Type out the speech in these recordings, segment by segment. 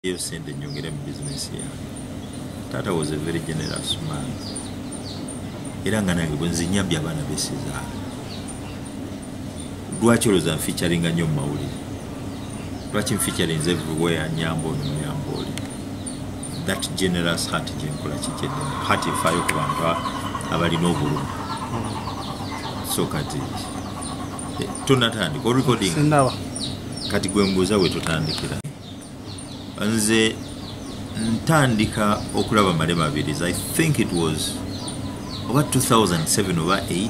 eyo sente nyongere mu bizinesi yange taata was a very generous man era nga nange bwenzinyambye abaana besizaala lwaki olowooza nficaringa nnyo mu mawulire lwaki nficarinze everywhere nyamba ono nyamba oli that generous heart gyenkola kikyeddemu heart efaayo ku bantu abalina obulumi so kati eh, tonatandika orecording kati gwembuuza wetotandikira nze ntandika okulaba male mabirizi i think it was oba 2007 oba 8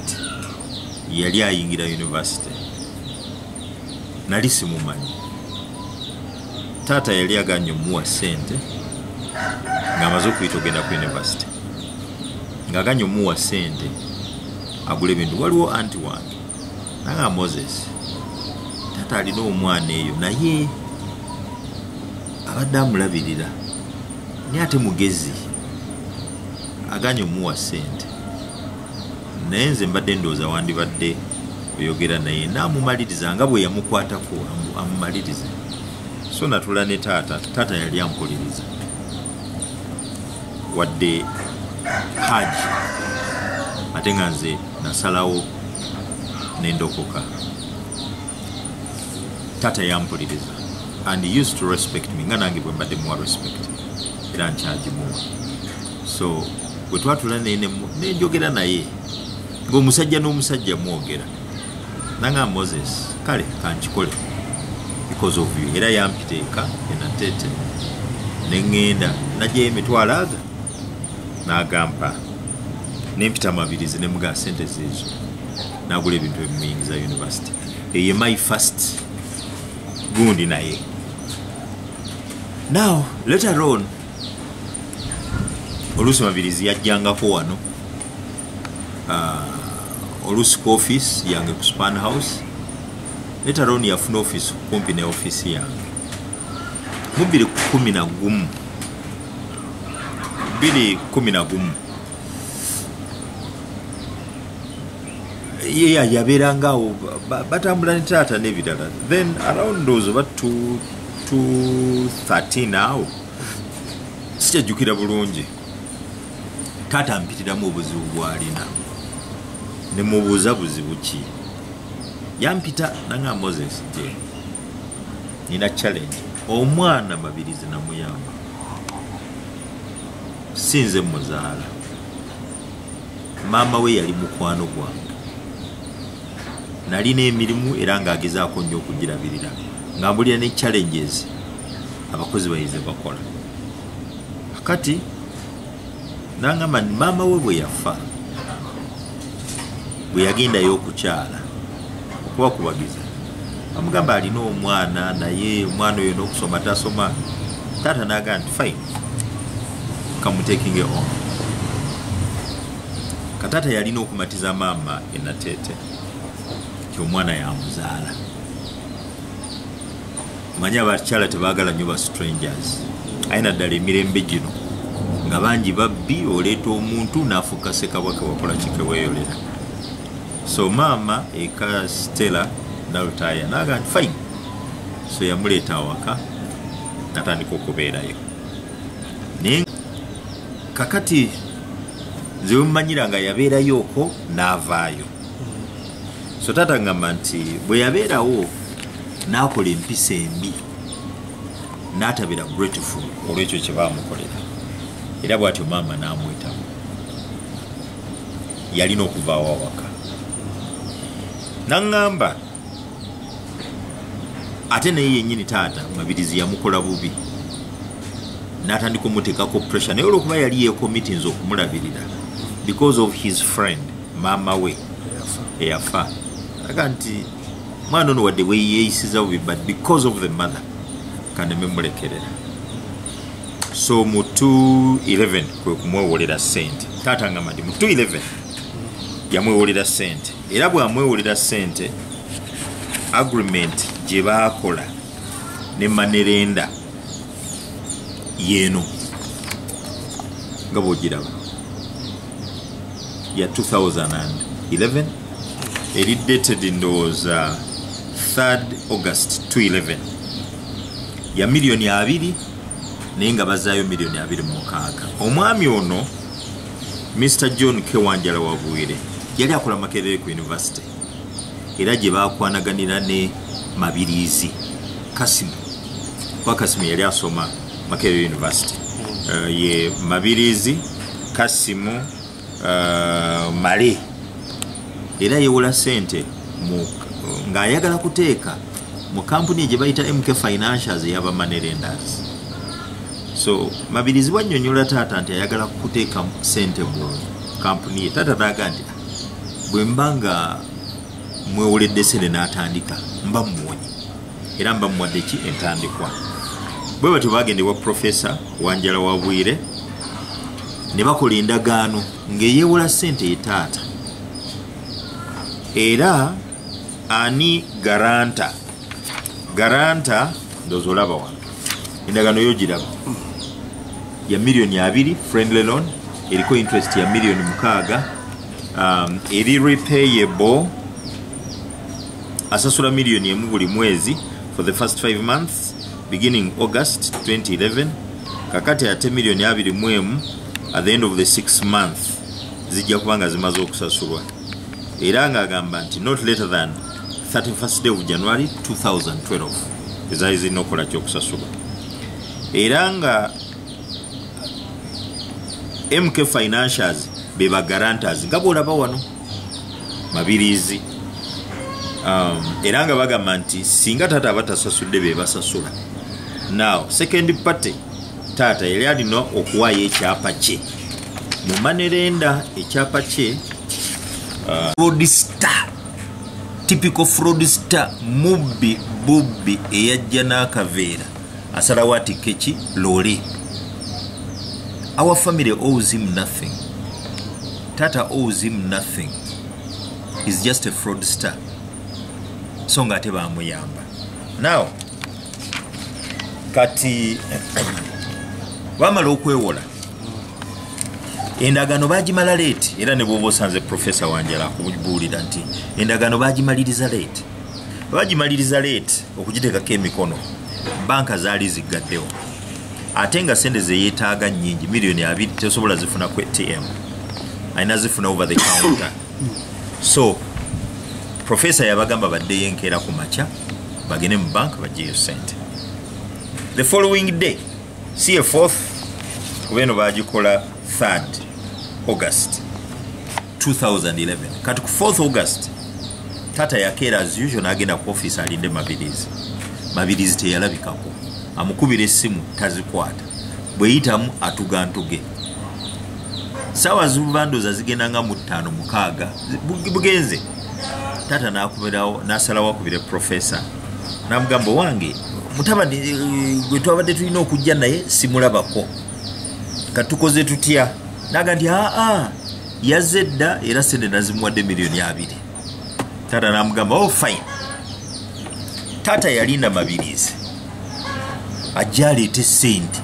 yali ayingira university nali simumanyi taata yali aganye omuwa sente ngaamaze okuyita ogenda ku university ngaaganye omuwa sente agula ebintu waliwo anti wange nanga moses taata alina omwana eyo naye abadde amulabirira naye ate mugezi aganye omuwa sente naye nze mbadde ndowooza wandibadde oyogera naye naamumaliriza nga bwe yamukwatako amumalirize so natula ne taata taata yali ampuliriza wadde haji ate nga nze nasalawo nendokoka taata yampuliriza and used to respect me nga nange bwembadde muwa respect era nkyagimuwa so bwe twatula naye nenjogera naye ngaomusajja n'omusajja mwogera nanga moses kale kankikole because of you era yampiteeka enatete neŋŋenda nagyeyo emitwalo aga n'agampa nempita mabirizi nemugaa sente zeezo nagula ebintu ebimuyingiza university eye my first gundi naye now later on oluusi mabirizi yajjangako wano uh, oluusi ku office yange ku span house later on yafuna office kumpi ne office yange mubiri kumi na gumu bili kumi na gumu yeya yabeeranga awo batambula ne taata n'ebirala then around those oba 213 awo sikyajjukira bulungi taata ampitiramu obuzibu bwalina nemubuuza buzibu ki yampita nanga moses je nina challenge omwana mabirizi namuyamba sinze muzaala maama we yali mukwano gwange nalina emirimu era ng'agezaako nnyo okugirabirira nga mbulira ne challenges abakozi bayize bakola kati nangamba nti maama we bwe yafa bwe yagendayo okukyala okubakubagiza amugamba alina omwana naye omwana oyo n'okusoma tasoma taata naga nti fine kamutekinge on kataata yalina okumatiza maama enateete ti omwana yamuzaala manya abakyala tebagala nyo ba strangers aye naddala emirembe gino nga bangi babbi oleeta omuntu nafuuka sekabwake wakola kikeweyolera so maama eka stella nalutaya naga nti fine so yamuleeta awaka natandika okubeerayo naye kakati nze wemumanyira nga yabeerayo okwo naavaayo so taata ngamba nti bwe yabeerawo n'akola empisa embi n'atabira grateful olwekyo kye baamukolera era bw'atyo maama n'amwetamu yalina okuvaawo awaka naŋŋamba ate naye yennyini taata mabirizi yamukola bubi n'atandika omuteekako pressure naye olwokuba yali yekomitinza okumulabirira because of his friend maama we eyafa aga nti mwana ono wadde weyeyisiza bubi but because of the mother kaneme mulekerera so mu 211 kwe kumwewolera sente taata ngamba nti mu 211 yamwewolera sente era bwamwewolera sente agreement gye baakola ne manerenda yeeno nga bwogiraba ya 2011 eri dated ndowooza 3 august 211 ya miliyoni abiri naye nga bazaayo miliyoni abiri mumukaaga omwami ono mr john kewanjala wabwire yali akola makerere ku univesity era gye bakwanaganira ne mabiriizi kasimu kuba kasimu yali asoma makerere university uh, ye mabiriizi kasimu uh, male era yewola sente ng'ayagala kuteeka mu kampuni gye bayita mk financials eyabamanerenders so mabirizi bwanyonyola taata nti ayagala kuteeka sente mu kampuni ye taata naaga nti ah, bwemba nga mwewoledde sente n'atandika mba muwonye era mba muwadde ki entandikwa bwe batyo bagenda ewa profesa wanjala wa bwire ne bakola endagaano ng'eyeewola sente ye taata era ani garanta garanta ndoza olaba wano endagaano yo giraba ya miliyoni abiri friendly loan eriko interest ya miliyoni mukaaga um, eri repayable asasula million emu buli mwezi for the first 5 months beginning august 2011 kakati ate million abiri mu emu at the end of the 6 month zijja kuba nga zimaze okusasulwa era ng'agamba nti not later than 31st day of january 2012 ezaali zirina okukola kyokusasulwa era nga mk financials be bagaranters nga bwolaba wano mabiriizi um, era nga bagamba nti singa taata aba tasasudde be basasula now second party taata yali alina okuwaayo ekyapa kye mu manerenda ekyapa kye uh, rodista typical fraudster mubbi bubbi eyajja n'akaveera asalawo atikke ki loole our family owes him nothing tata owes him nothing is just a fraud star so nga ate bamuyamba now kati bamala okwewola endagaano bagimala leeti era ne bwoba osanze profesa wanjala kubuulira nti endagaano bagimaliriza leeti bagimaliriza leeti okugiteekako emikono banka zaali ziggaddewo ate nga sente zeyeetaaga nyingi miliyoni abiri tesobola zifuna ku atm alina zifuna over the counter so professor yabagamba baddeyo enkeera ku makya bagende mu banka bajeeyo sente the following day si e fourth kuba eno bagikola 3 august 2011 kati ku 4th august tata yakeera as usual nagenda ku office alinde mabirizi mabirizi teyalabikako amukubira essimu tazikwata bweyitamu atuga ntuge saawa zibubandoza zigenda nga mu ttaano mukaaga bugenze tata nakubirawo nasalawo akubire profesa namugamba wange mutabani eh, gwe twabadde tulina okujja naye simulabako katukoze tutya naga nti aa yazze dda era sente nazimuwadde miliyoni abiri taata namugamba o oh, fine taata yalinda mabirizi ajja aleete sente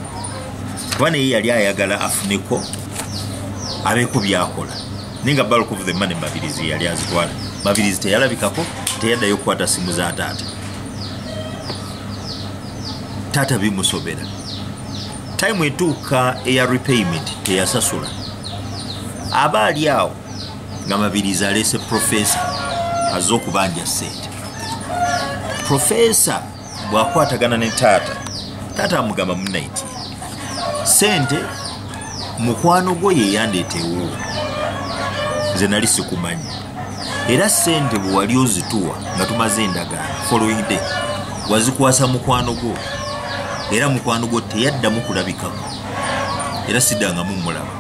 kuba naye yali ayagala afuneko abeeko byakola naye nga bulk of the money mabirizi yali azitwala mabirizi teyalabikako teyaddayo okukwata simu za taata taata bimusobera time etuuka eya repayment teyasasula aba ali awo nga mabirizi aleese profesa azze okubanja sente profesa bwakwatagana ne taata taata amugamba munaiti sente mukwano gwo yeyandeetewo nze nali sikumanyi era sente bwewali ozituwa nga tumaze endagala following day wazikwasa mukwano gwo era mukwano gwo teyaddamu kulabikako era siddangamu mulaba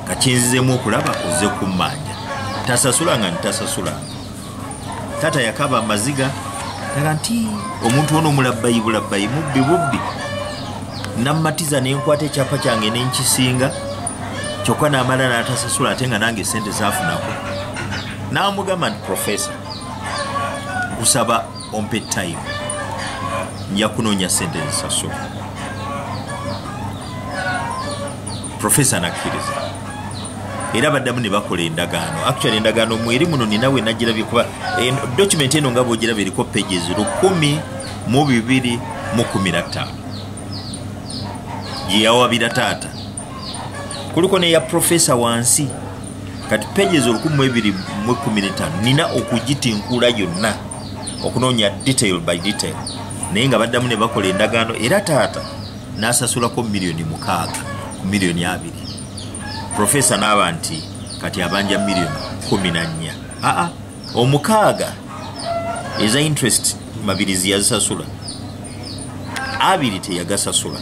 kakyenzizemu okulaba oze kummanja tasasula nga ntasasula tata yakaba amaziga taga nti omuntu ono omulabbayi bulabbayi mubbi bubbi nammatiza ne nkwata ekyapa kyange ne nkisinga kyokka n'amala n'atasasula ate nga nange esente zaafunako n'amugamba nti profesa kusaba ompe time nja kunoonya sente zisasula profesa nakkiriza era baddamu ne bakola endagaano actual endagaano mweri muno ninawe nagirabye kuba document eno nga bwogiraba eriko pages lukumi mu bibiri mu kumi na ttaano gyeyawabira taata kuliko neya profesa wansi kati pages olukumu ebiri mu ekumi netano nina okugitinkuula yonna okunoonya detail by detail naye nga baddamu ne bakola endagaano era taata n'asasulako miliyoni mukaaga ku miliyoni abiri profesa n'aba nti kati abanja miliyoni kumi na nnya aa omukaaga eza interest mabirizi yazisasula abiri teyagasasula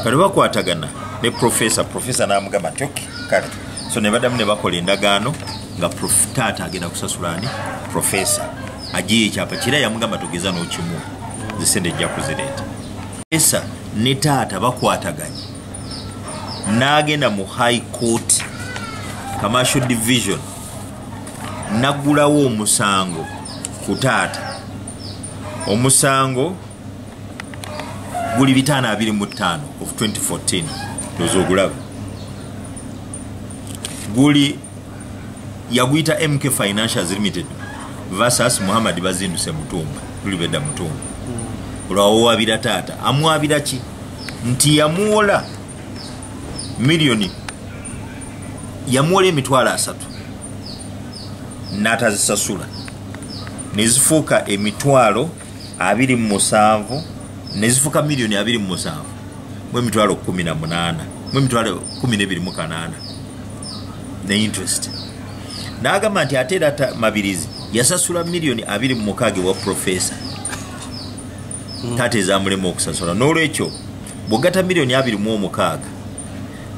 kati bakwatagana ne profesa profesa namugamba nti oke kale so ne badamu ne bakola endagaano nga taata agenda kusasula ani profesa ajiyo ekyapa kira yamugamba tugeza nokimu zisente ejja kuzireeta profesa ne taata bakwataganye n'agenda mu high court commercial division nagulawo omusango ku taata omusango guli bitaano abiri mu ttaano of 2014 oza ogulaba guli yaguyita mk financials limited versus muhammad bazinduse mutumba tulibedda mutumba olwawowabira taata amwabira ki nti yamuwola miliyoni yamuwola emitwalo asatu n'atazisasula nezifuuka emitwalo abiri mu musanvu nezifuuka miliyoni abiri mu musanvu mu emitwalo kumi na munaana mu emitwalo kumi n'ebiri mu kanaana ne interest n'agamba nti ate era mabirizi yasasula miliyoni abiri mu mukaaga ewa profesa hmm. taata ezamulema okusasula n'olwekyo bwogata miliyoni abiri mu omukaaga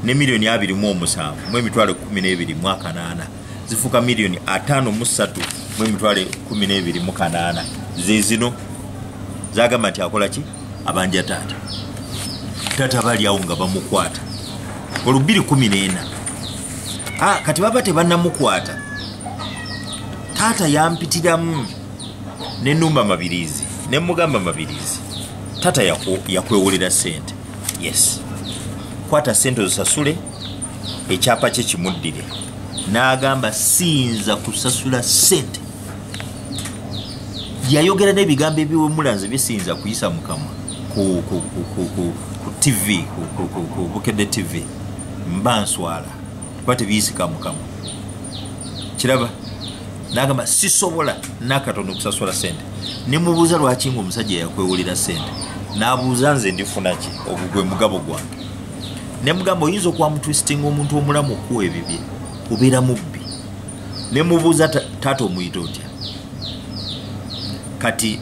ne miliyoni abiri mu omusanvu mu emitwalo ekumi n'ebiri mu akanaana zifuuka miliyoni ataano mu ssatu mu emitwalo ekumi n'ebiri mu kanaana zezino zagamba nti akola ki abanja taata taata bali awo nga bamukwata olubiri kumi n'ena ah, kati baba tebannamukwata taata yampitiramu ne numba mabirizi ne mugamba mabirizi tata yakwewolera sente yes kwata sente ozisasule ekyapa kye kimuddire n'agamba siyinza kusasula sente yayogera n'ebigambo ebiwemulanze bisiyinza kuyisa mukamwa ku tv bukedde tv mba nswala kuba tebiyisika mukamwa kiraba nagamba sisobola nakatono okusasula sente nemubuuza lwaki nga omusajja yakwewulira sente nabuuza nze ndifunaki ogwo gwe mugabo gwange nemugamba oyinza okuba mutwistinga omuntu omulamu okuwa ebibye kubeera mubbi nemubuuza taata omuyita otya kati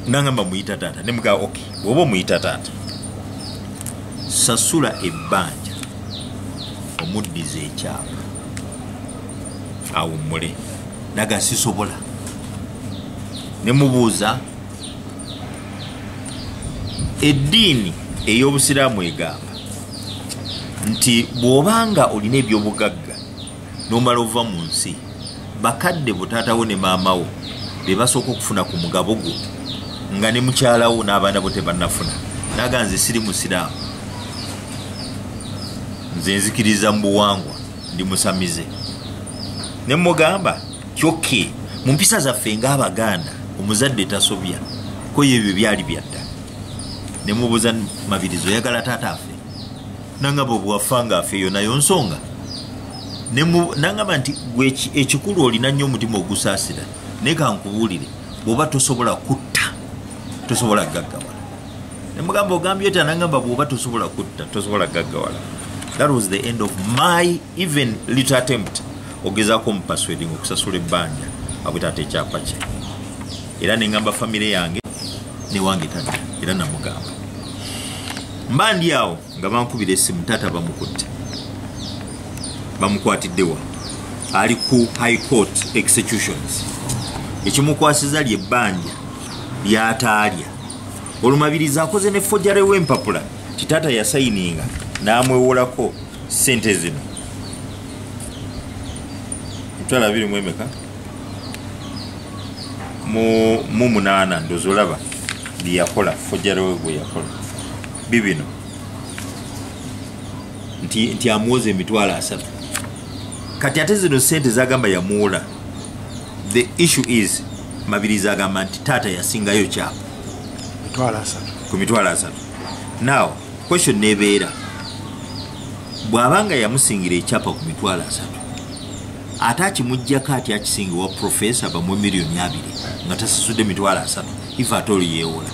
nangamba muyita taata nemugamba ok oba omuyita taata sasula ebbanja omuddiza ekyapa awummule naga sisobola nemubuuza eddiini ey'obusiraamu egamba nti bw'obanga olina ebyobugagga n'omala ova mu nsi bakadde butaatawo ne maamawo be basooka okufuna ku mugabo gwo nga ne mukyalawo n'abaana bo tebannafuna naga nze siri musiraamu nze nzikiriza mu buwangwa ndi musamize ne mugamba kyokke mu mpisa zaffe ng'abaganda omuzadde tasobya koyo ebyo byali byadda ne mubuuza mabirizi oyagala taata afe nangamba obwafa nga afe eyo nayo nsonga nangamba nti gwe ekikulu olina nnyo omutima ogusaasira naye kankubuulire bw'oba tosobola kutta tosobola gaggawala nemugamba ogambye oti anagamba bwoba tosobola kutta tosobola gaggawala that was the end of my even little attempt ogezako omupasweding okusasula ebbanja abwetaata ekyapa kye era nengamba famire yange newange tata era namugamba mba ndi awo nga bankubira esimu tata bamukutte bamukwatiddewa ali ku high court executions ekimukwasiza lyebbanja lyataalya olwo mabirizi akoze ne fojare w'empapula kitaata yasayininga n'amwewolako sente zino emitwalo abiri mu emeka mu munaana ndozi olaba byeyakola fojare we gweyakola bibino nti amwoza emitwalo asatu kati ate zino sente zagamba yamuwola the issue is mabirizi agamba nti taata yasingayo kyapa ku mitwalo asatu now question nebeera bw'aba nga yamusingira ekyapa ku mitwalo asatu ate akimugjako ati akisingiwa profesa bamu emiliyoni abiri nga tasasudde mitwalo asatu if ate oli yeewola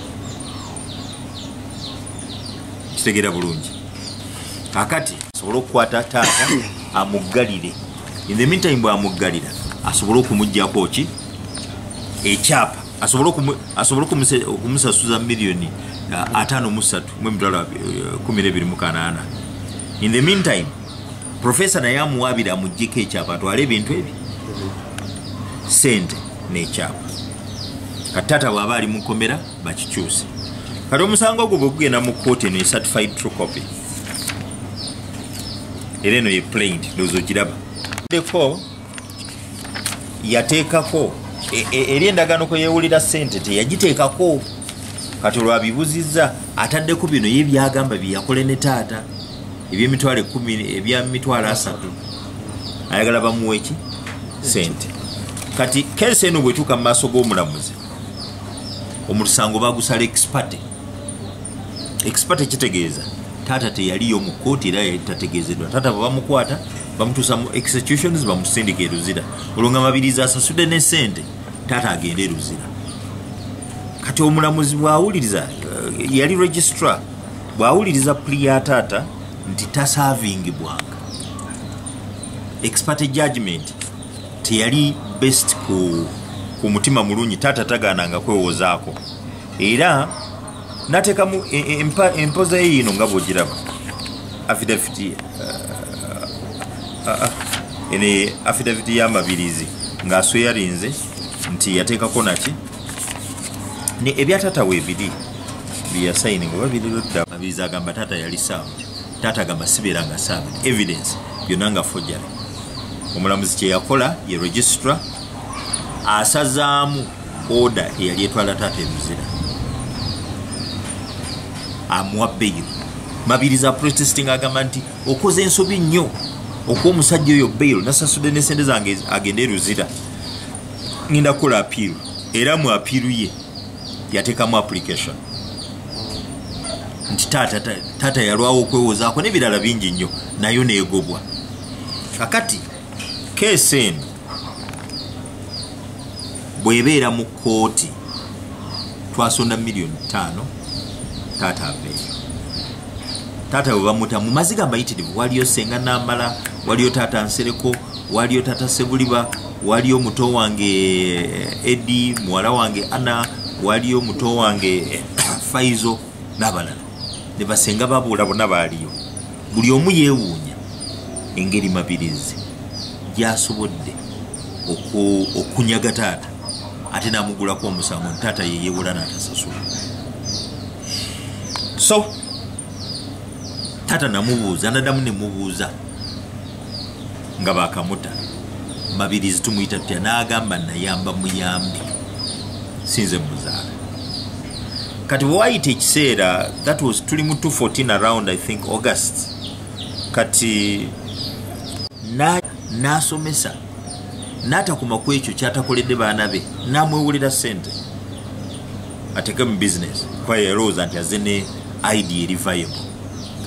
kitegeera bulungi akati asobole okukwata taata amuggalire in the meantime bwamuggalira asobole okumugjako ki ekyapa asobole okumusasuza miliyoni uh, atano musatu mu emitwalo uh, kumi nebiri mukanaana in the meantime profesa naye amuwaabira amugjeko ekyapa atwale ebintu ebyo sente nekyapa kati taata bwaba ali mukomera bakikyuse kati omusango ogwo bwegugenda mu kooti eno ecertified true copy era eno yeplaint dozo kiraba deko yateekako e, e, eri endagaano kwe yeewulira ssente teyagiteekako kati olwabibuzizza ataddeko bino ye byagamba byeyakole ne taata ebyemitwalo ekumi ebya mitwalo asatu ayagala bamuweki sente kati kesi eno bwetuuka mu maaso g'omulamuzi omusango bagusala expate expate kitegeeza taata teyaliyo mu kooti era yali tategeezedwa taata bwe bamukwata bamutuusa mu executions bamusindika eruzira olwo nga mabirizi asasude ne sente taata agende eruzira kati omulamuzi bwawuliriza eh, yali registrar bwawuliriza puli ya taata nti tasavingibwanga expate judgment teyali best ku, ku mutima mulungi taata tagaananga kwewozaako era natekamu e, e, empoza ye yino nga bwogiraba afidaviti uh, uh, uh, ene afidaviti yamabirizi ngaasweyarinze nti yateekako naki ebyatata webiri byeyasayininga oba birirudda mabirizi agamba taata yali saamu taata agamba sibeera nga saaga evidence byonna nga fojjale omulamuzi kye yakola ye registra asazaamu oda eyali etwala taata emizira amuwa beyo mabiriza protesting agamba nti okoze ensobi nnyo okuwa omusajja oyo bail nasasudde nesente zange agende eruzira ngenda kukola apiiru era mu apiiru ye yatekamu application nti taata taata yalwawo okwewozaako nebirala bingi nnyo nayo negobwa kakati keesi eno bwebeera mu kooti twasonda miliyoni ttaano taata aveeyo taata bwe bamuta mu maziga amayitirivu waliyo senga namala waliyo taata nsereko waliyo taata sebuliba waliyo muto wange eh, edi muwala wange ana waliyo muto wange eh, faizo n'abalala ne basenga babuula bona baaliyo buli omu yeewuunya engeri mabirizi gyasobodde okunyaga taata ate n'amugulako omusango nti taata ye yeewola n'atasasula so taata namubuuza nadamu nemubuuza nga bakamuta mabirizi tumuyita tutya n'agamba nayamba muyambi sinze muzaala kati bwewayita ekiseera that was tuli mu 214 around i think august kati n'asomesa na n'atakuma ku ekyo kyatakoledde baana be n'amwewulira sente ateeke mu bizinesi kuba yalowooza nti aze ne idea eri viable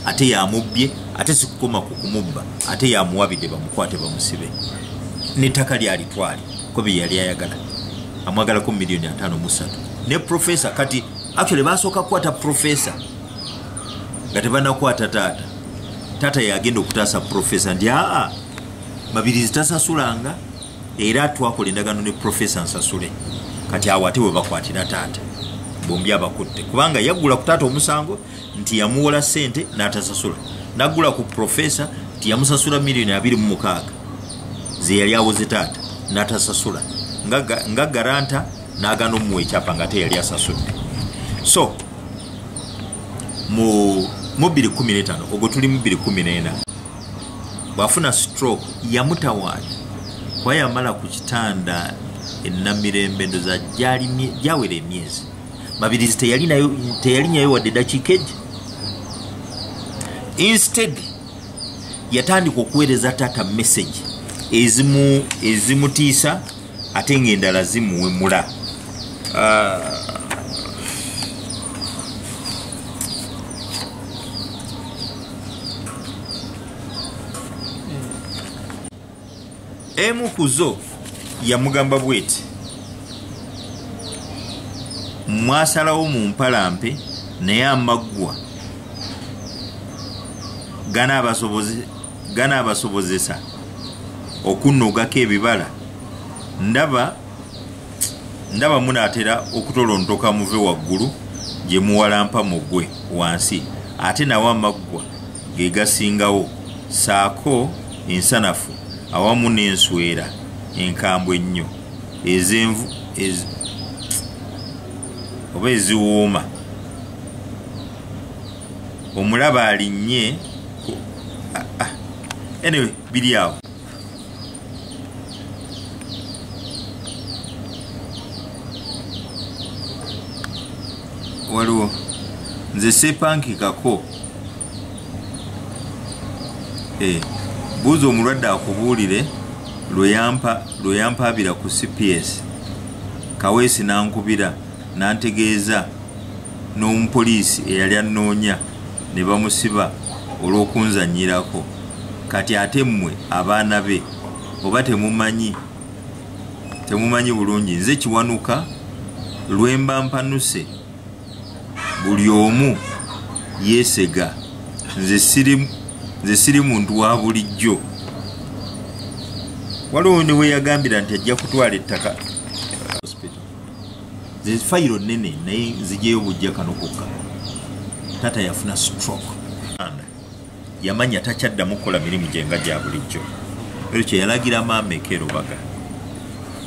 ate yamubbye ate sikukoma ku kumubba ate yamuwabidde bamukwate bamusibe nettaka lyalitwale ko bye yali ayagala amwagalako miliyoni ataano musatu ne profesa kati actually basooka kukwata profesa nga tebanakwata taata taata yagenda okutaasa profesa nti aa mabirizi tasasulanga era twakola endagano ne profesa nsasule kati awo ate webakwatira taata bombi abakutte kubanga yaggula ku taata omusango nti yamuwola sente natasasula nagula ku profesa nti yamusasula miliyoni abiri mu mukaaga zeyali awoze taata natasasula nga garanta nagana omuwa ekyapa nga ate yali asasudde so mu 215 ogwo tuli mu 214 bwafuna stroke yamutawaana kuba yamala ku kitanda enamirembe ndoza gyawera emyezi mabirizi teyalinyayo wadde dakiika egi instead yatandika okuweereza taata message ezimu ezimutiisa ate ngaendala zimuwemula ah. emu ku zo yamugamba bweti mwasalawo mu mpalampe naye amaggwa ganaabasobozesa okunnogako ebibala ndaba ndaba munaatera okutolontoka muve waggulu gye muwalampa mugwe wansi ate nawo amaggwa ge gasingawo saako ensanafu awamu n'enswera enkambwe ennyo ezenvu ez, oba eziwooma omulaba alinnye ah, ah. anyway biri awo waliwo nze sepankikako eh, buuza omulwadde akubuulire lweyampaabira ku cps kaweesi nankubira nantegeeza n'omupoliisi eyali annoonya ne bamusiba olw'okunzanyirako kati ate mmwe abaana be oba temumanyi temumanyi bulungi nze kiwanuka lwemba mpanuse buli omu yesega nze siri muntu wa bulijjo waliwo ne weyagambira nti ajja kutwala ettaka nze fayiro nene naye nzijeyo bujja kano kokka tata yafuna stroke yamanya takyaddamu kukola mirimu gye nga gya bulijjo ekyo kye yalagira maama ekeerubaga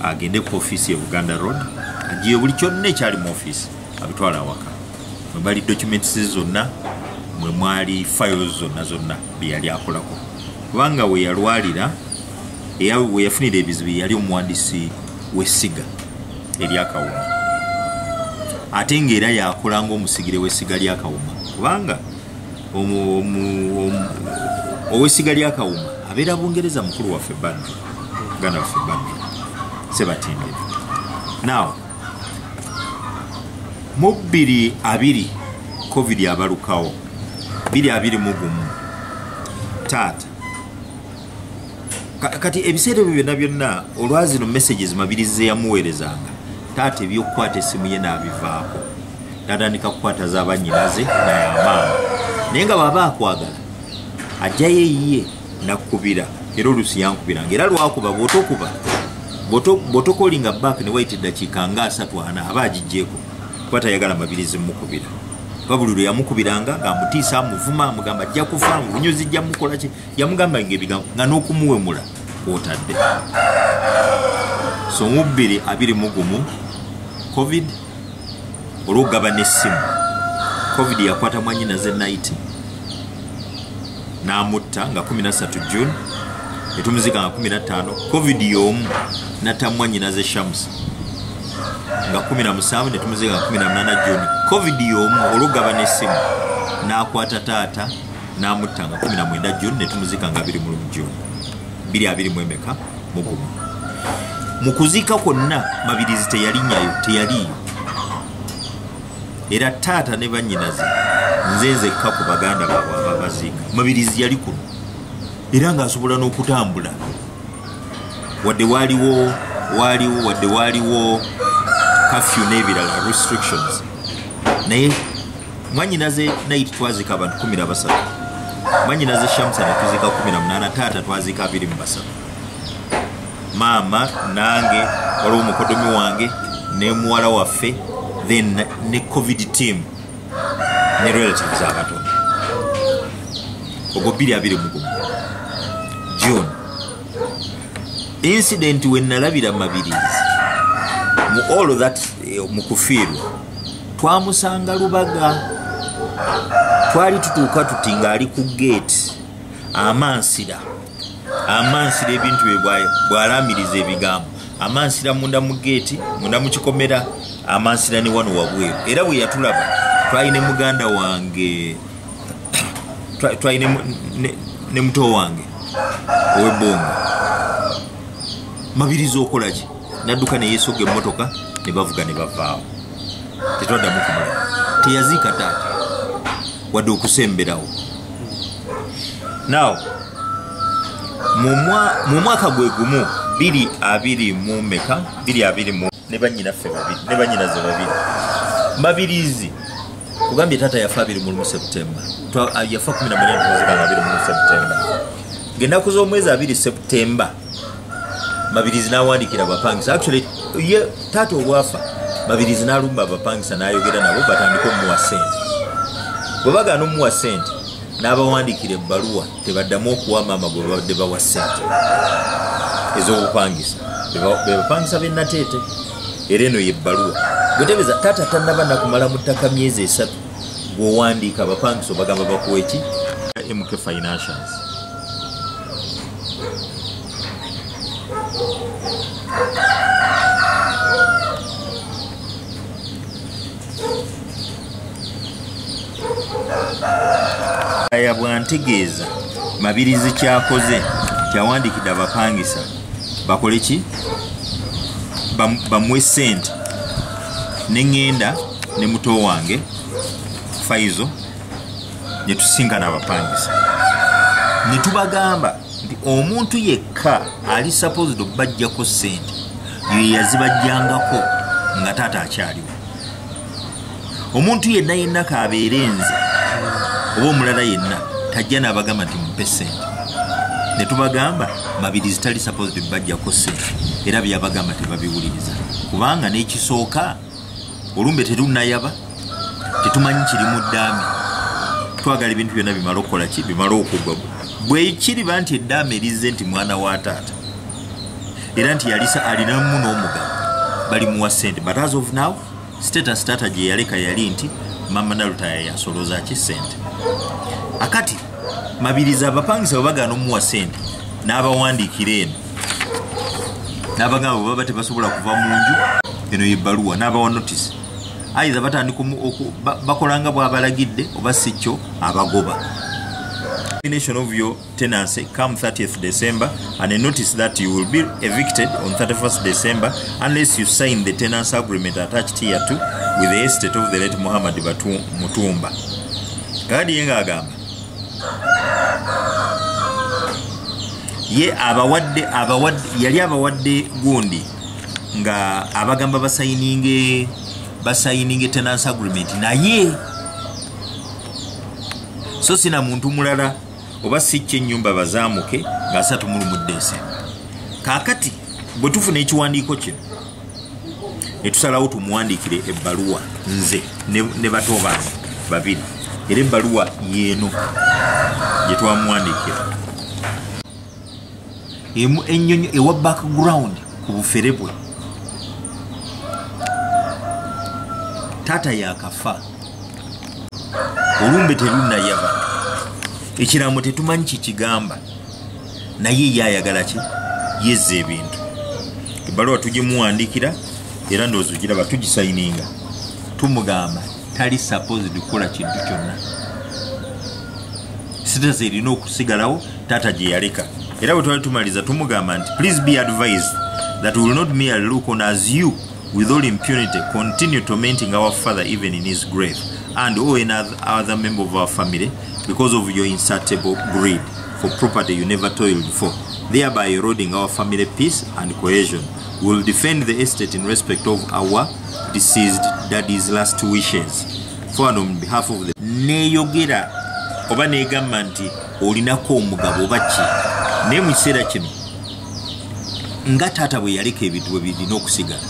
agende ku ofiisi ye buganda road agiye buli kyonna ekyali mu ofiisi abitwala awaka mwe bali documents zonna mwe mwali files zonna zonna bye yali akolako kubanga we yalwalira we yafunira ebizibu yali omuwandiisi w'essiga eryakawuma ate ng'era yakola ng'omusigire w'essiga lyakawuma kubanga owesiga lyakawuma abeera bungereza mukulu waffe badru muganda waffe badru sebatindira now mu bbiri abiri covid abalukawo biri abiri mugumu taata kati ebiseera ebyo byonna byonna olwazino messages mabirizi zeyamuweerezanga taata ebyokukwata esimu ye n'abivaako natandika kukwata zabanyinaze nayamaama naye nga baba akwagala ajjayo eyiye nakubira era olusi yankubiranga era lwakuba bwotokuba bwotokolinga bak newayita eddakiika nga asatu ana aba agijjeeko kuba tayagala mabirizi mukubira kuba buli lwe yamukubiranga ngaamutiisa amuvuma amugamba ajja kufa mubunyuzi jja mukolaki yamugamba nga ebigambo nga n'okumuwemula kwotadde so mu bbiri abiri mu gumu covid olwokugaba n'essimu covid yakwata mwanyina ze nayiti n'amutta nga 13 june etumuzika nga 15 covid y'omu natta mwanyina ze shamus nga 17 netumuzika nga 18 june covid y'omu olwokugaba n'essimu n'akwata taata n'amutta nga kumi na mwenda juni ne tumuziika nga abiri mulumu juni biri abiri mu emeka mugumu mu kuziika kwonna mabirizi teyalinyayo teyaliiyo era taata ne bannyinaze nze nzekka ku baganda baabwe ababaziika mabirizi yali kuno era ng'asobola n'okutambula wadde waaliwo waaliwo wadde waaliwo kafyu n'ebirala restrictions naye mwanyinaze nayiti twazika abantu kumi na basatu mwanyinaze shamusa netuzika kumi na munaana taata twazika abiri mu basatu maama nange waliwo mukodomi wange ne muwala waffe then ne covid team ne relatives abatono ogwo biri abiri mugumu june incident wenalabira mabirizi mu all that eh, mukufiirwa twamusanga lubaga twali tutuuka tuti ng'ali ku geeti amansira amansira ebintu bye bwalaamiriza ebigambo amansira munda mu geeti munda mu kikomera amansira ne wano wabweru era bwe yatulaba twali ne muganda wange twali ne muto wange owebonga mabiriza okolaki nadduka ne yeesogga emmotoka ne bavuga ne bavaawo tetwaddamu kumala teyaziika taata wadde okusemberawo now mu mwaka gwe gumu biri abiri mu meka biri abiri mu ne banyinaffe babiri ne banyinaze babiri mabirizi kugambye taata yafa abiri mu lumu septemba yafa kumi na munana tuzikanga abiri mu lumu septemba ngaenaku z'omwezi abiri septemba mabirizi n'awandiikira abapangisa actually ye taata obwafa mabirizi n'alumba abapangisa n'ayogera nabo batandika omuwa sente bwe bagaana omuwa sente n'abawandiikira ebbaluwa tebaddamu okuwa maama gwe babadde bawa sente ez'obupangisa bebapangisa benateete era eno yebbaluwa gwetebeza taata tanaba nakumala mu ttaka myezi esatu gweowandiika abapangisa obagamba bakuwa eki mk financials aya bwantegeeza mabirizi kyakoze kyawandikidde abapangisa bakole ki bamuwe sente neŋŋenda ne muto wange faizo netusinga nabapangisa netubagamba nti omuntu yekka ali supposed okubajjako sente yeyazibajjangako nga taata akyaliwo omuntu yenna yenna kabeere nze oba omulala yenna tajja nabagamba nti mumpe sente netubagamba mabiri zitali supposed bajjako sente era byabagamba tebabiwuliriza kubanga nekisooka olumbe terunayaba tetumanyi kiri mu ddaame twagala ebintu byonna bimala okukola ki bimala okugwa bwekiriba nti eddaame erizze nti mwana wa taata era nti yalisa alinamu n'omugabo bali muwa sente but as of now status taata gye yaleka yali nti mama nalutaya yasoloza ki sente akati mabiriza abapangisa bwe bagaana omuwa sente n'abawandiikira eno nabagamba bwebaba tebasobola kuva mu nju eno yebaluwa nabawa notisi ayiza batandika bakolanga bwabalagidde oba si kyo abagoba termination of your tenancy come 30th December and I notice that you will be evicted on 31st December unless you sign the tenancy agreement attached here to with the estate of the late Muhammad Batu Mutumba. Kadi yenga agamba. ye abawadde abawadde yali abawadde gundi nga abagamba basayininge basayininge tenance agreement naye so sina muntu mulala oba si kyenyumba bazamuke nga asatu mulumudde ensi kakati bwe tufuna ekiwandiiko kino netusalawo tumuwandiikire ebbaluwa nze ne bato bange babiri era ebbaluwa yeeno gye twamuwandiikira emu ennyonyi ewa background ku bufere bwe taata yakafa olumbe terunnayaba ekiraamo tetumanyi kikigamba naye ye ayagala ki yezza ebintu ebbaluwa tugimuwandiikira era ndowooza ogiraba tugisayininga tumugamba tali supposed kukola kintu kyonna sitazi erina okusigalawo taata gye yaleka era bwe twali tumaliza tumugamba nti please be advised that will not merely look on as you with all impunity continue tormenting our father even in his grave and all another member of our family because of your insatiable greed for property you never toiled for, thereby eroding our family peace and cohesion. We will defend the estate in respect of our deceased daddy's last wishes. For on behalf of the neyogera oba negamba nti olinako omugabo oba ki naye mu kiseera kino nga taata bwe yaleka ebintu bwe birina okusigala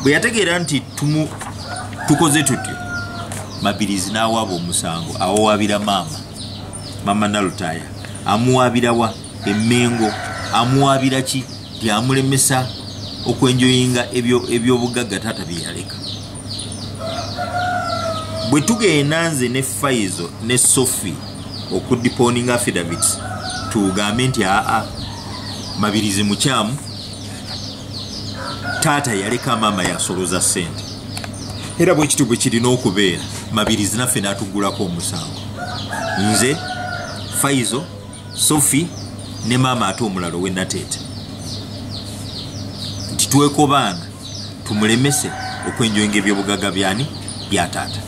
bwe yategeera nti tumu tukoze tutyo mabirizi n'awaaba omusango awowabira maama mama nalutaya amuwabirawa emengo amuwabira ki byamulemesa okwenjoyinga ebyobugagga taata byeyaleka bwe tugenda nze ne faizo ne sofi okudiponinga affidavits tugambe nti aa mabirizi mukyamu taata yaleka maama yasoloza sente era bwekityo bwe kirina okubeera mabirizi naffe n'atuggulako omusango nze faizo sofi ne maama ate omulalo we nateete nti twekobaana tumulemese okwenjoyinga ebyobugaga byani byataata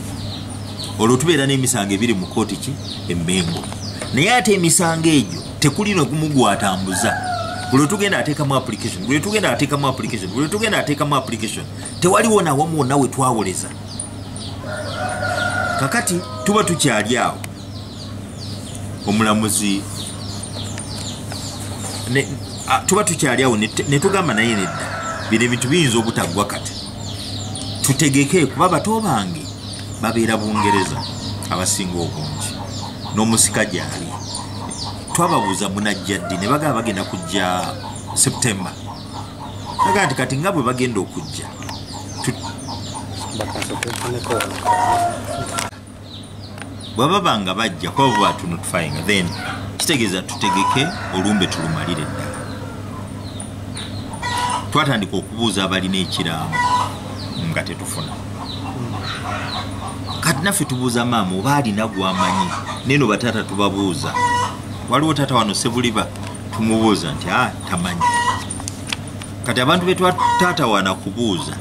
olwo tubeera n'emisango ebiri mu kooti ki emmengo naye ate emisango egyo tekuli nogumu gwatambuza buli tugenda atekamu application buli tugenda atekamu application buli tugenda atekamu application tewaliwo nawamu wonna we twawoleza kakati tuba tukyali awo omulamuzi tuba tukyali awo netugamba naye nedda bino ebintu biyinza obutaggwa kati tutegeke kuba bato bange babeera bungereza abasinga obungi n'omusika gyali twababuuza munajja ddi ne bagaba bagenda kujja september agati kati nga bwe bagenda okujja bwaba banga bajja kuba bwe batunotfyinga then kitegeeza tutegeke olumbe tulumalire ddala twatandika okubuuza abalina ekiraamo nga tetufuna kati naffe tubuuza maama oba alina gwamanyi neno bataata tubabuuza waliwo taata wano sebuliba tumubuuza nti a ah, tamanyi kati abantu betwatatawana kubuuza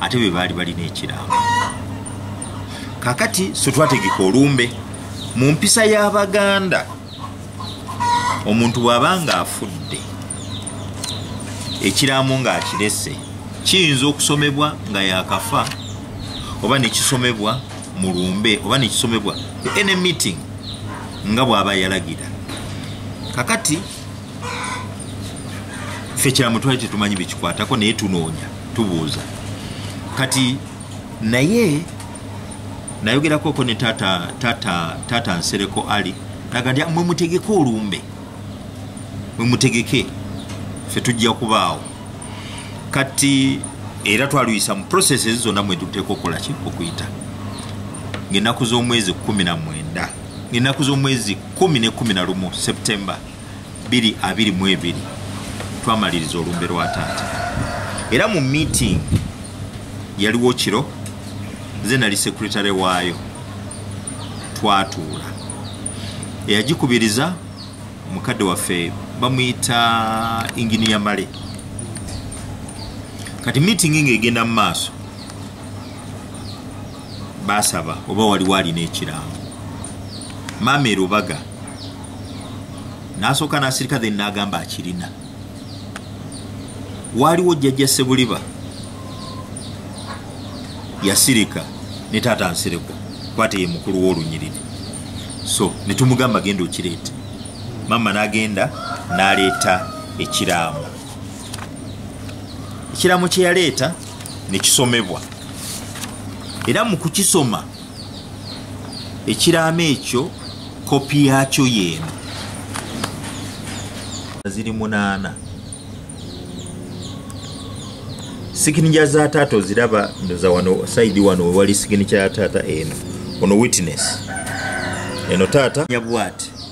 ate be baali balina ekiraamo kakati sotwategeka olumbe mu mpisa y'abaganda omuntu bw'aba ng'afudde ekiraamo ng'akirese kiyinza okusomebwa nga yakafa oba nekisomebwa mu lumbe oba nekisomebwa any meeting nga bw'aba yalagira kakati ffe kyamutwali tetumanyi bekikwatako naye tunoonya tubuuza kati naye nayogerakoko ne tata tata tata nsereko ali naga ndi mwe mutegeke olumbe mwe mutegeke ffe tujja kubaawo kati era twaluyisa mu prosese zonna mwe tuteeka okukolaki okuyita ngaenaku z'omwezi kumi na mwenda ngaenaku z'omwezi kumi ne kumi na lumu septemba biri abiri mu ebiri twamaliriza olumbe lwa taata era mu meeting yaliwo kiro nze nali sekuritale waayo twatuula eyagikubiriza mukadde waffe bamuyita inginiya male kati meeting nga egenda mu maaso baasaba oba waliwo alina ekirango maama erubaga n'asooka n'asirika then n'agamba akirina waaliwo jjajja sebuliba yasirika ne taata nsereko kwate ye mukulu w'olunyiriri so ne tumugamba genda okireeta maama n'agenda n'aleeta ekiraamo ekiraamo kye yaleeta nekisomebwa era mu kukisoma ekiraamo ekyo kopi yaakyo yeeno ziri munaana siginija za taata oziraba ndoza wano saidi wano wewali siginija ya taata eno ono witness eno taata nyabwati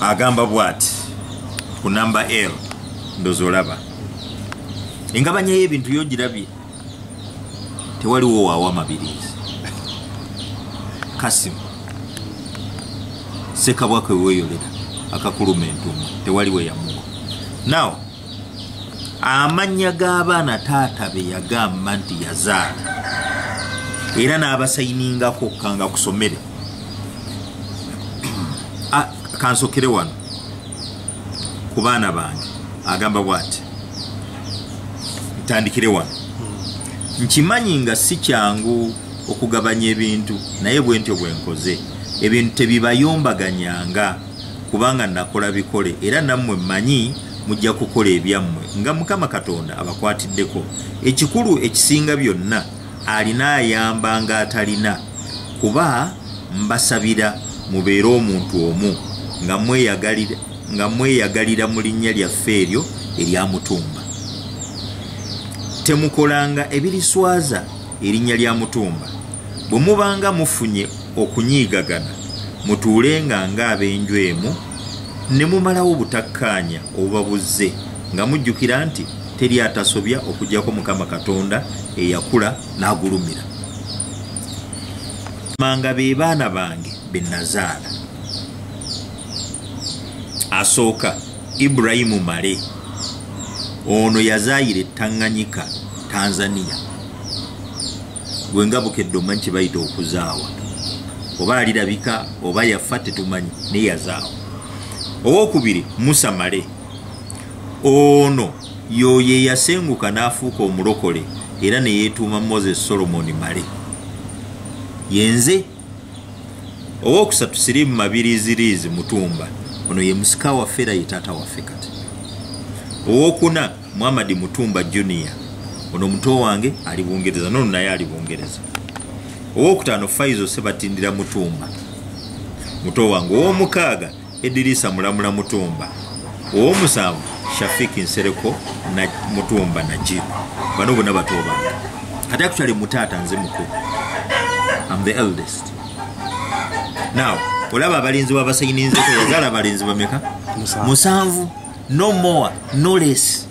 agamba bwati ku namba l ndoza olaba engabanya y'ebintu yogirabye tewaliwo waawo amabirizi kasimu sekabwa kwe weeyolera akakuluma entumu tewali we yamuwa nawo amannya g'abaana taata be yagamba nti yazaala era n'abasayiningako kanga kusomere ah, kansokere wano ku baana bange agamba bwati ntandikire wano hmm. nkimanyi nga si kyangu okugabanya ebintu naye bwentyo bwenkoze ebintu tebibayombaganyanga kubanga nakola bikole era nammwe mmanyi mujja kukola ebyammwe nga mukama katonda abakwatiddeko ekikulu ekisinga byonna alina ayamba nga atalina kuba mbasabira mubeere omuntu omu nga mweyagalira mu linnya lyaffe eryo eryamutumba temukolanga ebiriswaza erinnya lya mutumba bwe mubanga mufunye okunyiigagana mutuulenga ng'ab'enju emu ne mumalawo obutakkaanya obuba buzze nga mujjukira nti teri atasobya okugyako mukama katonda eyakula n'agulumira manga be baana bange be nazaala asooka Ibrahim Male ono yazaayira ettanganyika Tanzania gwe nga bukedde omanyi kye bayita okuzaawa oba alirabika oba yafa tetumanyi naye yazaawa owokubiri Musa Male ono yoyo eyasenguka n'afuuka omulokole era ne yeetuuma Moses Solomon Male yenze owokusatu sirimu mabiriiziriizi mutumba ono ye musika waffe era ye taata waffe kati owokuna muhamadi mutumba junior ono muto wange ali bungereza nono naye ali bungereza owokutaano faizo sebatindira mutumba muto wange owomukaaga Edirisa Mulamula Mutumba, ow'omusanvu Shafik Nsereko na Mutumba Najib. Bano bona bato bange. Kati actually mutaata nze mukulu. I'm the eldest. Now, olaba abalinzi b'abasayininzeko yazala abalinzi bameka? Musanvu. No more, no less.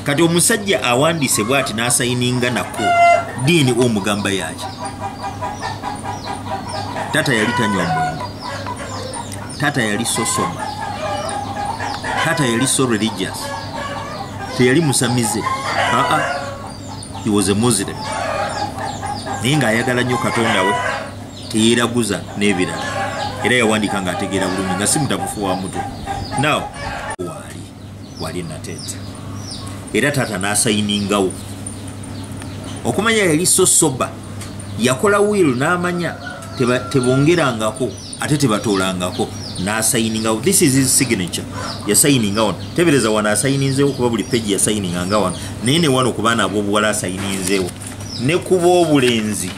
kati omusajja awandiise bwati n'asayininga nako diini omugamba yaki taata yali tanywa mwenge taata yali sosoma taata yali so religious teyali musamize aa he was a muslim naye ng'ayagala nnyo katonda we teyeraguza n'ebirala era yawandiika ng'ategeera bulungi nga si mutabufu wa mutu naw waali waali nateete era taata n'asayiningawo okumanya yali so soba yakola wiil n'amanya tebongerangako ate tebatoolangako nasayiningawo this is his signature yasayininga wano tebereza wano asayininzewo kuba buli peji yasayininga nga wano naye ne wano ku baana ab'obuwala asayininzewo ne kuba obulenzi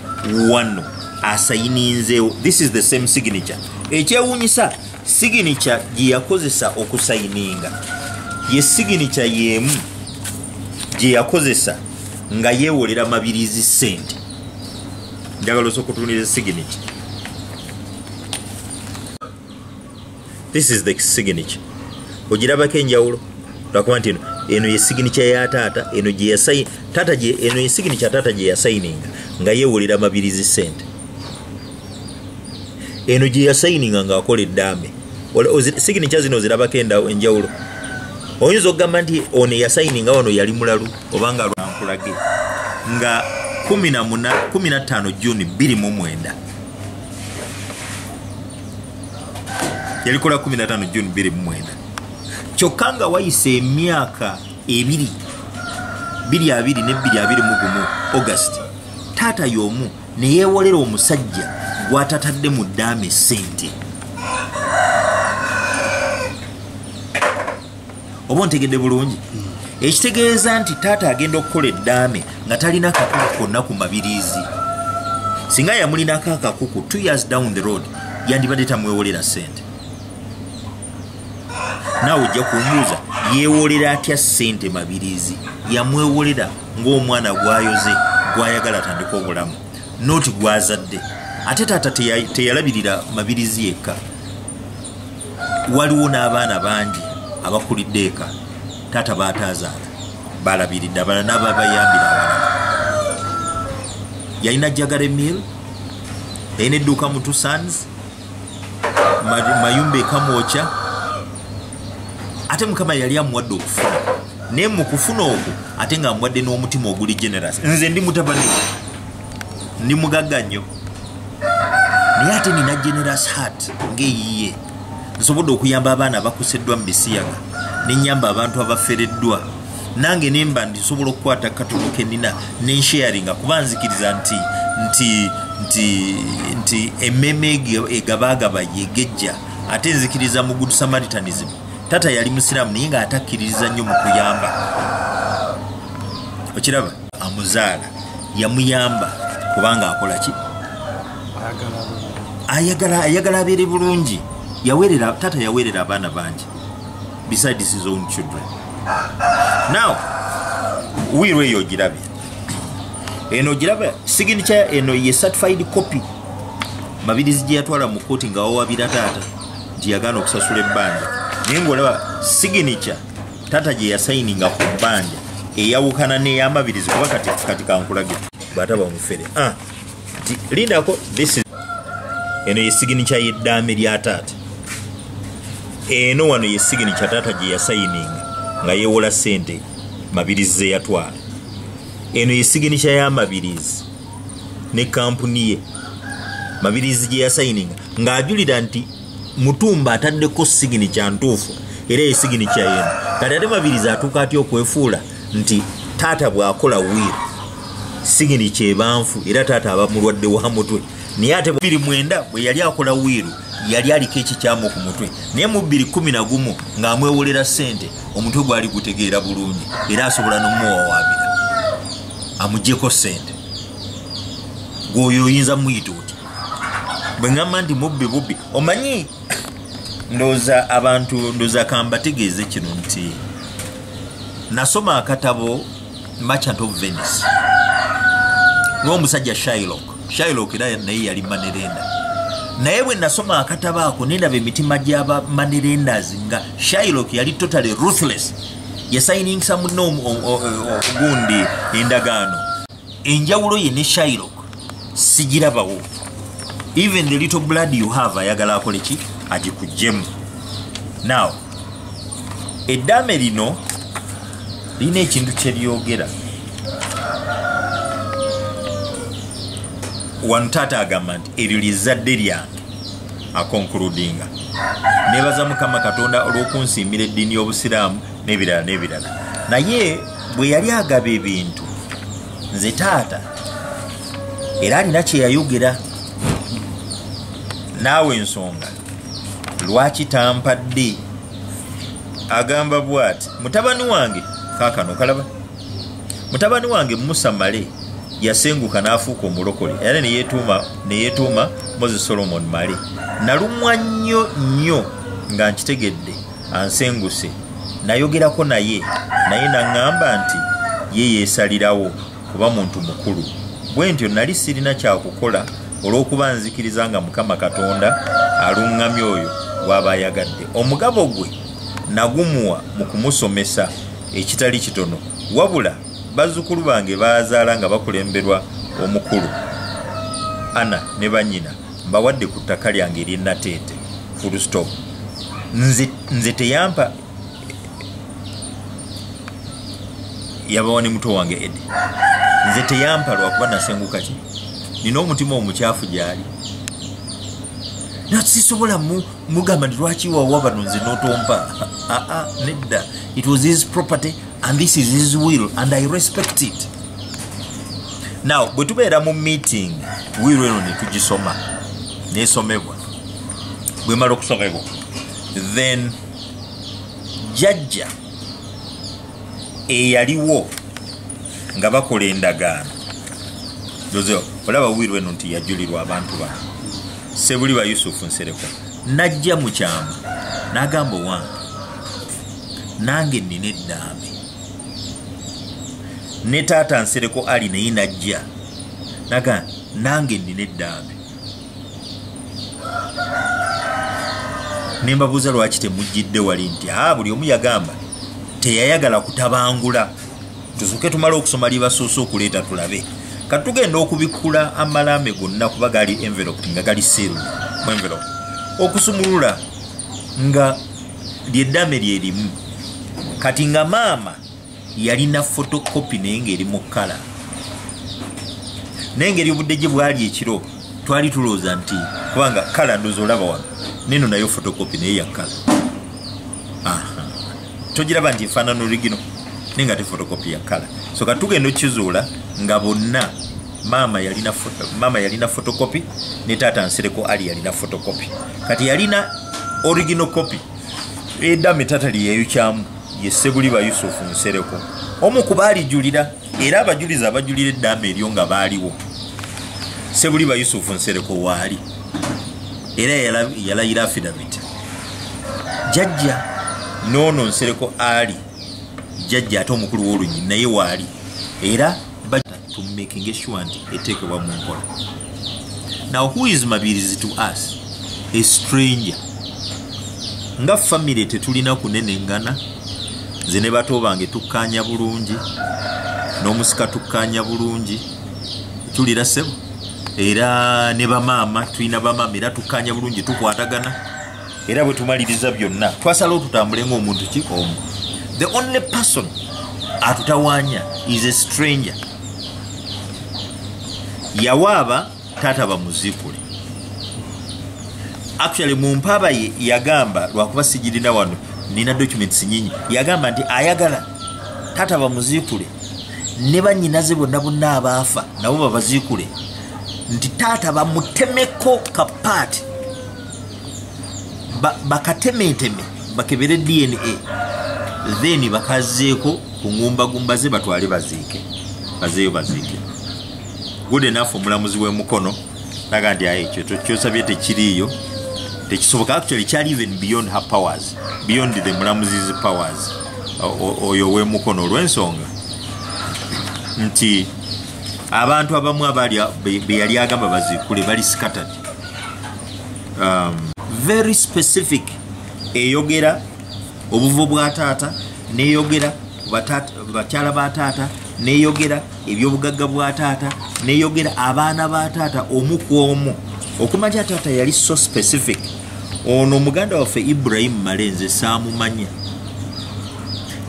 wano asayininzeewo this is the same signature ekyewuunyisa signature gye yakozesa okusayininga ye signature y'emu gye yakozesa nga yeewolera mabirizi sente njagala osokutunira signature this is the signature ogirabako enjawulo lwakuba nti eno ye signature ya taata eno gyeyasayi taata gye eno ye signature taata gye yasayininga nga yewulira amabirizi sente eno gye yasayininga ng'akola eddaame signature zino ozirabako enjawulo oyinza okugamba nti ono eyasayininga wano yali mulalu obanga lwankulage nga 15 juni 2 mu mwenda yalikola 15 june 29 kyokka nga wayisa emyaka ebiri biri abiri nebbiri abiri mu gumu august taata y'omu neyewolera omusajja gwatatadde mu ddaama esente oba ontegedde bulungi ekitegeeza nti taata agenda okukola eddaame nga talina kakuku konna ku mabiriizi singa yamulinako akakuku t years down the road yandibadde tamwewolera sente naawe ojja kumbuuza yeewolera atya sente mabiriizi yamwewolera ng'omwana gwayoze gwayagala atandika obulamu noti gwazadde ate taata teyalabirira mabiriizi yekka waliwo n'abaana bangi abakulidde eka taata baataazaala balabiridde abala naaba bayambira abalala yalina jagare mill yalina edduuka mu tusans mayumba ekamwokya ate mukama yali amuwadde okufuna naye mu kufuna okwo ate nga amuwadde n'omutima oguli generous nze ndi mutabani ndi mugagga nnyo naye ate nina generous heart ngaeyiye nsobodde okuyamba abaana abakuseddwa mu bisiyaga nenyamba abantu abafereddwa nange nemba ndi nsobola okukwata katono kenina nensharinga kuba nzikiriza nti nti nti nti ememe egabagaba yegejja ate nzikiriza mu good samaritanism tata yali musiraamu naye nga atakkiririza nnyo mu kuyamba okiraba amuzaala yamuyamba kubanga akola ki ayagala ayagala abeere bulungi yawerera tata yawerera abaana bangi besides his own children now wiiro eyo ogirabe eno ogirabe signature eno ye certified copy mabirizi gye yatwala mu kkooti nga wawabira taata nti yagaana okusasula ebbanja naye ngaolaba signature tata gye yasayininga ku bbanja eyawukana n'eyamabirizi kuba kati kati kankulage bwataba omufere ah, lindako eno yesigini kya yeddaame lya taata eno wano yesigini kya taata gye yasayininga nga yewola sente mabirizi zeyatwala eno yesigini kya yamabirizi ne kampuni ye mabirizi gye yasayininga ng'ajulira nti mutumba ataddeko sigini kya ntuufu era eyo sigini kya yena kati ate mabiriza atuuka atya okwefuula nti taata bw'akola wiiri sigini kyebanfu era taata aba mulwadde wa mutwe naye ate biri mwenda bwe yali akola wiiru yali aliko ekikyamu ku mutwe naye mu bbiri kumi na gumu ng'amwewolera ssente omutwe gwali gutegeera bulungi era asobola n'omuwawaabira amugyeko ssente gwoyo oyinza muyita oti bwe ŋŋamba nti mubbi bubbi omanyi ndooza abantu ndooza kambategeeze kino nti nasoma akatabo merchant of venice n'omusajja shilok shilok era naye yali manerenda naye bwe nasoma akatabo ako nendaba emitima gyaba manerendas nga shilok yali totally ruthless yasayiningisa munne ogundi endagaano enjawulo ye ne shairok sigirabawo even the little blood you have ayagala akole ki agikujjemu now eddaame lino lirina ekintu kyeryogera wano taata agamba nti eryo lyezadde lyange akonkuludinga nebaza mukama katonda olw'okunsiimira eddiini y'obusiraamu nebirala nebirala naye bwe yali agaba ebintu nze taata era alina kyeyayogera naawe ensonga lwaki tampadde agamba bwati mutabani wange kakano kalaba mutabani wange musa male yasenguka n'afuuka omulokole era neyetuuma neyetuuma moses solomon male nalumwa nnyo nnyo nga nkitegedde ansenguse nayogerako naye naye naŋŋamba nti ye yeesalirawo kuba muntu mukulu bwe ntyo nali sirina kyakukola olw'okuba nzikiriza nga mukama katonda aluŋŋamya oyo gw'aba ayagadde omugabo gwe nagumuwa mu kumusomesa ekitali kitono wabula bazzukulu bange baazaala nga bakulemberwa omukulu ana ne bannyina mbawadde ku ttaka lyange ery'e nateete full stop nze, nze teyampa yabawa ne muto wange edi nze teyampa lwakuba nasenguka ki nina omutima omukyafu gyali nasisobola mugamba nti lwaki wawa bano nze notompa aa ah, ah, nedda it was his property and this is his will and i respect it now bwe tubeera mu meeting will eno netugisoma nesomebwa bwemala okusomebwa then jajja eyaliwo nga bakola endagaano oze olaba will eno nti yajulirwa abantu bano sebuli ba yusufu nsereko najja mu kyama nagamba owange nange nina eddambi ne taata nsereko ali naye najja naga nange nina eddambi nembabuuza lwaki temujjidde wali nti a buli omu yagamba teyayagala kutabangula tusuke tumale okusoma libasuuse okuleeta tulabe kati tugenda okubikkula amalaame gonna kuba gali envelop nga gali siru mu envelop okusumulula nga lyeddame lyerimu kati nga maama yalina fotokopi naye ngaeri mu kkala naye ngeri obudde gye bwali ekiro twali tulowooza nti kubanga kkala ndoza olaba wano neno nayo fotokopi naye yakkala togiraba nti efaanana oligino naye nga te fotokopi yakkala so katugenda okizuula nga bonna maama yalina maama yalina photocopy ne taata nsereko ali yalina photocopy kati yalina original copy eda mitata liyeyo kyamu ye sebuli ba yusuf nsereko omu kubali julira era abajuliza abajulira eddaama eryo nga baaliwo sebuli ba yusuf nsereko waali era yalayira afidavit jajja noono nsereko ali jajja ate omukulu w'olunyini naye waali era to making sure nti eteekebwa mu nkola now who is mabirizi to us a stranger nga famire tetulina kunenengana nze ne bato bange tukkaanya bulungi n'omusika tukkaanya bulungi tulira sebo era ne bamaama tulina bamaama era tukkaanya bulungi tukwatagana era bwe tumaliriza byonna twasalawo tutambule ng'omuntu ki omu the only person atutawaanya is a stranger yawaaba taata bamuzikule actually mu mpaaba ye yagamba lwakuba sigirina wano nina documents nyinyi yagamba nti ayagala taata bamuzikule ne banyinaze bonna bonna abaafa nabo babazikule nti taata bamutemeko kapaati bakatemeteme bakebere dna then bakazeeko ku ngumbagumba ze batwale baziike bazeeyo baziike good enough omulamuzi w'emukono naga nti aye ekyo kyosabye tekiriiyo tekisoboka actually kyali even beyond her powers beyond the mulamuzi's powers oyo w'emukono olw'ensonga nti abantu abamu abaali beyali agamba baziikule bali scattered um, very specific eyogera obuvo bwa taata neyogera bakyala ba taata neyogera ebyobugagga bwa taata neyogera abaana ba taata omu ku omu okumanya taata yali so specific ono muganda waffe ibrahimu malenze saamumanya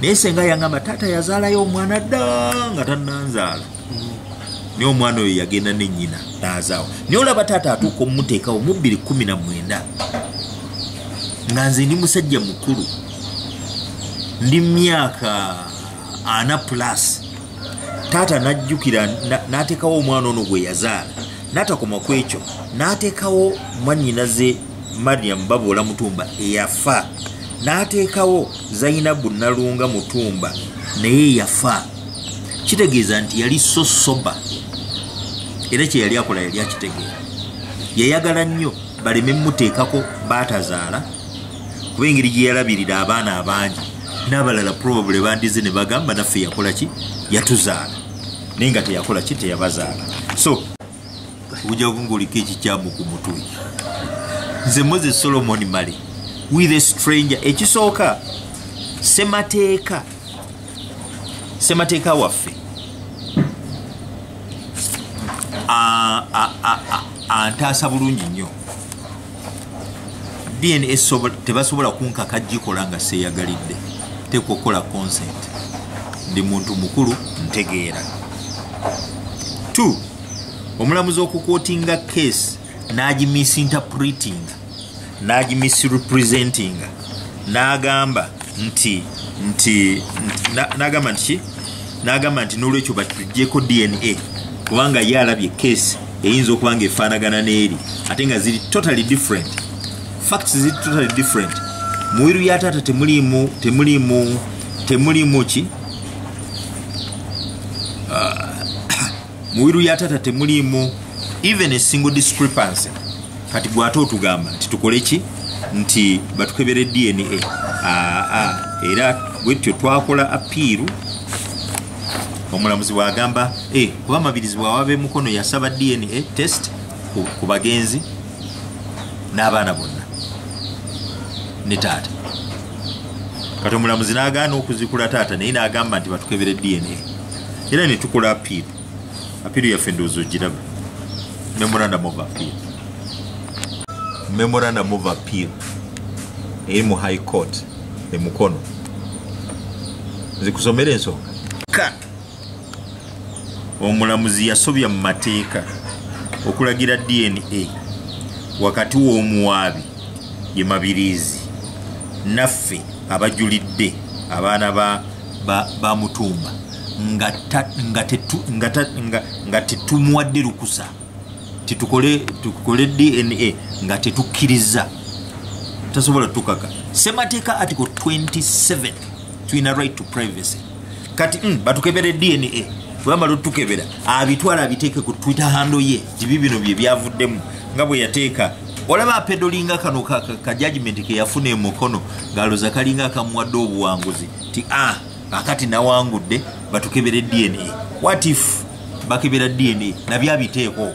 naye senga yangamba taata yazaalayo omwana dda nga tannanzaala naye omwana oyo yagenda nenyina nazaawo naye olaba taata atuuka omumuteekawo mu bbiri kumi na mwenda nga nze ndi musajja mukulu ndi myaka ana plus taata najjukira natekawo omwana ono gwe yazaala natakoma ku ekyo natekawo mwanyinaze mariam baboola mutumba eyafa natekawo zainabu nalunga mutumba naye yafa kitegeeza nti yali so soba era kye yali akola yali akitegeera yayagala nnyo baleme muteekako baatazaala kuba engeri gye yalabirira abaana abangi n'abalala probably bandize ne bagamba naffe yakola ki yatuzaala naye nga teyakola ki teyabazaala so ojja kungaoliko ekikyamu ku mutwe nze moses solomon male with a stranger ekisooka semateeka semateeka waffe antaasa bulungi nnyo dns tebasobola kunkaka gikola nga seyagalidde teeka okukola consent ndi muntu mukulu ntegeera t omulamuzi okukotinga case n'agimisinterpretinga n'agimisrepresentinga n'agamba nti nti n'agamba nti ki n'agamba nti n'olwekyo batugyeko dna kubanga ye alabye keesi eyinza okuba nga efaanagana n'eri ate nga ziri totally different facts ziri totally different muwiru ya taata temuliimu temuliimu temuliimu ki muwiru ya tata temuliimu even a single discrepancy kati gwate otugamba nti tukole ki nti batukebere dna aa era bwetyo twakola apiiru omulamuzi bwagamba eh, kuba amabirizi bwawabe mukono yasaba dna test ku bagenzi n'abaana bonna ne taata kati omulamuzi n'agaana okuzikula taata naye n'agamba nti batukebere dna era ne tukola apiiru apiiru yaffe ndowooza ogiraba memorandum of appeal memorandum of appeal eri mu high court e mukono zikusomera ensonga ka omulamuzi yasobya mu mateeka okulagira dna wakati w'omuwaabi ye mabiriizi naffe abajulidde abaana ba bamutumba nga tetumuwadde lukusa tetukole dna nga tetukkiriza tasobola tukaka semateeka article 27 tulina right to privacy kati mm, batukebere dna webamala otukebera abitwala abiteeke ku twitter hando ye tibi bino bye byavuddemu nga bwe yateeka olaba apedolinga kano ka judgment ke yafuna emukono ngaloza kalinga akamuwadde obuwanguzi ti a ah, akati nawangudde batukebere dna wat if bakebera dna nabyo abiteeko okwo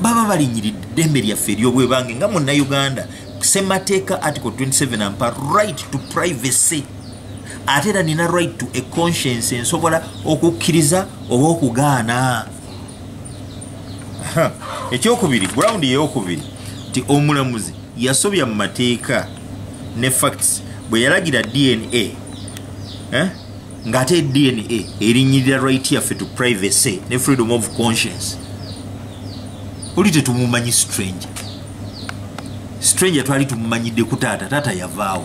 baba balinyiridde ddembe lyaffe eryobwebange nga munnauganda semateeka article 27 ampa right to privacy ate era nina right to a conscience ensobola okukkiriza oba okugaana ekyokubiri ground eyokubiri nti omulamuzi yasobya mu mateeka ne facts bwe yalagira dna eh? ng'ate dna erinyirira right yaffe to privacy ne freedom of conscience oli tetumumanyi stranger stranger twali tumumanyidde ku taata taata yavaawo